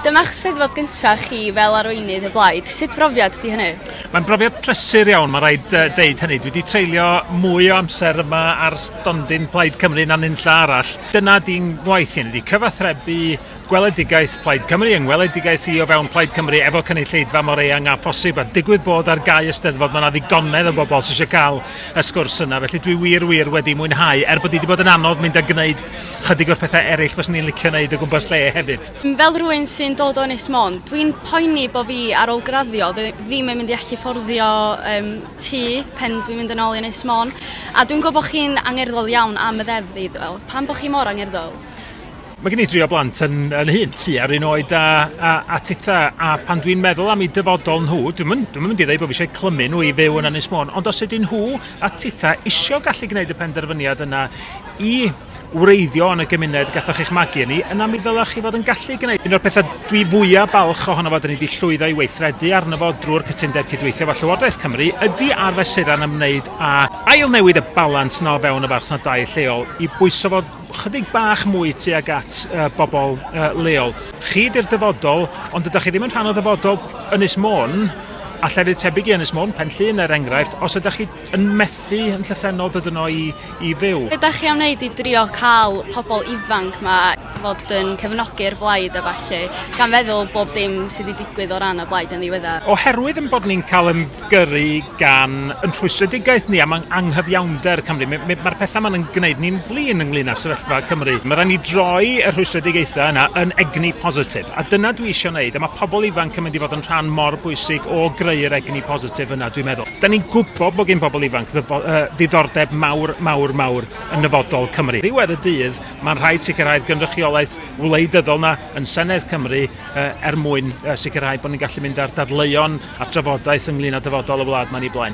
Dyma'ch Steddfod gyntaf chi fel arweinydd y blaid, sut brofiad ydy hynny? Mae'n brofiad prysur iawn, mae rhaid deud hynny. Dwi wedi treulio mwy o amser yma ar stondin Plaid Cymru na nunlla arall. Dyna di'n ngwaith i, ydy cyfathrebu gweledigaeth Plaid Cymru yng ngweledigaeth i o fewn Plaid Cymru efo cynulleidfa mor eang a phosib, a digwydd bod ar gau y Steddfod mae yna ddigonedd o bobl sydd eisiau cael y sgwrs yna, felly dwi wir, wir wedi mwynhau, er bod hi wedi bod yn anodd mynd a gwneud chydig o'r pethau eraill fyswn i'n licio wneud o gwmpas lle hefyd. Fel rhywun sy'n dod o Ynys Môn, dwi'n poeni bod fi ar ôl graddio ddim yn mynd i allu fforddio um, tŷ pen dwi'n mynd yn ôl i Ynys Môn. A dwi'n gwybod bod chi'n angerddol iawn am y ddeddf i ddweud, pan bod chi mor angerddol? Mae gen i drio blant yn, yn hyn, tu ar un oed a, a, a titha, a pan dwi'n meddwl am ei dyfodol nhw, dwi'n mynd, dwi'n mynd i ddweud bod fi eisiau clymu nhw i fyw yn Ynys Môn, ond os ydyn nhw a titha isio gallu gwneud y penderfyniad yna i wreiddio yn y gymuned gathoch eich magu yn ni, yna mi ddylech chi fod yn gallu gwneud un o'r pethau dwi fwyaf balch ohono fo dyn ni wedi llwyddo i weithredu arno fo drwy'r cytundeb cydweithio efo Llywodraeth Cymru ydy ar fesurau'n ymwneud â ail newid y balans yna o fewn y farchnadau lleol i bwyso fo chydig bach mwy tuag at uh, bobl uh, leol. Chi di'r dyfodol, ond ydych chi ddim yn rhan o ddyfodol Ynys Môn, a llefydd tebyg i Ynys Môn, Penllyn er enghraifft, os ydych chi yn methu yn llythrennol dod yno i, i fyw. Be da chi am wneud i drio cael pobl ifanc ma fod yn cefnogi'r blaid a ballu, gan feddwl bob dim sydd wedi digwydd o ran y blaid yn ddiweddar? Oherwydd yn bod ni'n cael yn gyrru gan yn rhwystredigaeth ni am ang anghyfiawnder Cymru, mae'r me, ma pethau ma'n yn gwneud ni'n flin ynglyn â sefyllfa Cymru. Mae rhaid ni droi y rhwystredigaethau yna yn egni positif, a dyna dwi eisiau wneud, a mae pobl ifanc yn mynd i fod yn rhan mor bwysig o greu'r egni positif yna, dwi'n meddwl. Da ni'n gwybod bod gen bobl ifanc ddyfo, uh, ddiddordeb mawr, mawr, mawr yn nyfodol Cymru. Ddiwedd y dydd, mae'n rhaid sicrhau'r gynrychiolaeth wleidyddol na yn Senedd Cymru uh, er mwyn uh, sicrhau bod ni'n gallu mynd ar dadleuon a drafodaeth ynglyn â dyfodol y wlad mae'n ei blaen.